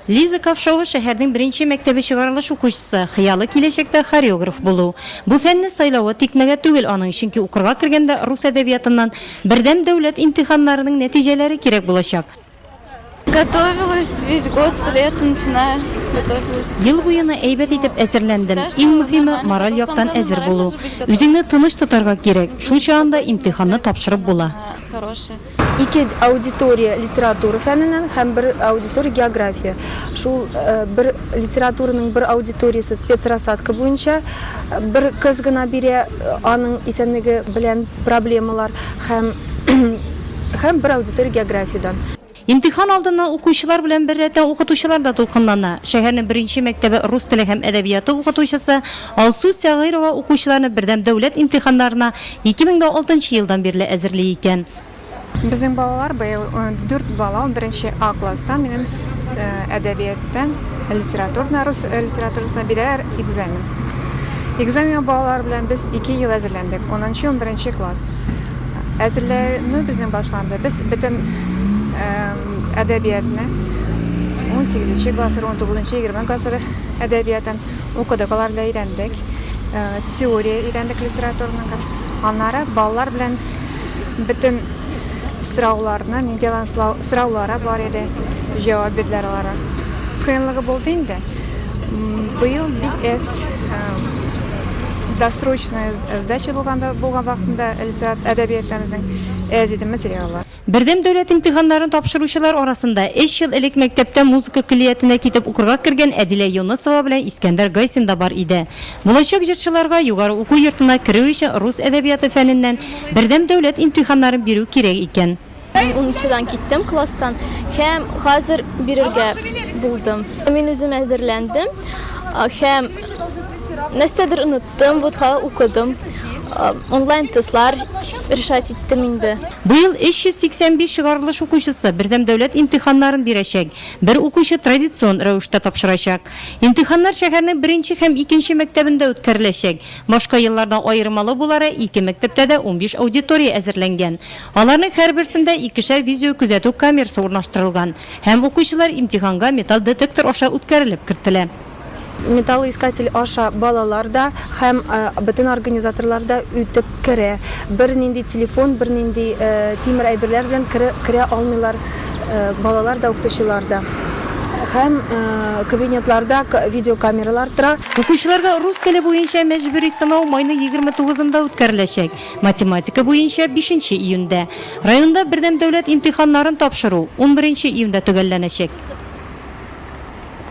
Лиза Ковшова, шәһәрнең беренче мәктәбе чыгарылыш укучысы. Хыялы, киләчәктә хореограф булу. Бу фәнне сайлавы тикмәгә түгел аның, чөнки укырга кергәндә рус әдәбиятыннан Бердәм дәүләт имтиханнарының нәтиҗәләре кирәк булачак. Готовилась весь год, с лета начиная готовилась. Ел буена әйбәт итеп әзерләндем. Иң мөһиме, мораль яктан әзер булу. Үзеңне тыныч тотарга кирәк, шул чагында имтиханны тапшырып була. Ике аудитория литература фәненнән һәм бер аудитория география. Шул бер литератураның бер аудиториясе спецрассадка буенча бер кыз гына бирә, аның исәнлеге белән проблемалар һәм һәм бер аудитория географиядән. Имтихан алдыннан укучылар белән беррәттән укытучылар да дулкынлана. Шәһәрнең беренче мәктәбе рус теле һәм әдәбияты укытучысы Алсу Сәгыйрова укучыларны Бердәм дәүләт имтиханнарына 2006 нчы елдан бирле әзерли икән. Безнең балалар быел дүрт бала унберенче А класста минем әдәбияттан литературна рус литературасына бирәләр экзамен. Экзаменга балалар белән без ике ел әзерләндек, унынчы унберенче класс. Әзерләнү безнең башланды, без бөтен әдәбиятны унсигезенче гасыр, унтугызынчы-егерме гасыр әдәбиятын, укыдык алар белән өйрәндек. Э, теория өйрәндек литературныгы. Аннары балалар белән бөтен сорауларны, нинди алган сораулары бар иде, җавап бирделәр аларга. Кыенлыгы булды инде. Быел бик әз э, досрочная сдача булганда булган вакытында әдәбиятыбызның әз иде материаллар. Бердәм дәүләт имтиханнарын тапшыручылар арасында өч ел элек мәктәптә музыка көллиятенә китеп укырга кергән Әдилә Юнысова белән Искәндәр Гайсин да бар иде. Булачак җырчыларга югары уку йортына керү өчен рус әдәбияты фәненнән бердәм дәүләт имтиханнарын бирү кирәк икән. Мин унынчыдан киттем класстан һәм хәзер бирергә булдым. Мин үзем әзерләндем һәм нәрсәдер оныттым. ТМВУТка укыдым. Онлайн тестлар решать иттем инде. Быел 385 чыгарылыш укучысы бердәм дәүләт имтиханнарын бирәчәк, бер укучы традицион рәвештә тапшырачак. Имтиханнар шәһәрнең беренче һәм икенче мәктәбендә үткәреләчәк. Башка еллардан аермалы булары, ике мәктәптә дә унбиш аудитория әзерләнгән. Аларның һәрберсендә икешәр видеокүзәтү камерасы урнаштырылган һәм укучылар имтиханга металл детектор аша үткәрелеп кертелә. Металлоискатель аша балалар да һәм бөтен организаторлар да үтеп керә. Бернинди телефон, бернинди тимер әйберләр белән керә алмыйлар балалар да, укытучылар да. Һәм кабинетларда видеокамералар тора. Укучыларга рус теле буенча мәҗбүри сынау майның егерме тугызында үткәреләчәк, математика буенча, бишенче июньдә. Районда бердәм дәүләт имтиханнарын тапшыру унберенче июньдә төгәлләнәчәк.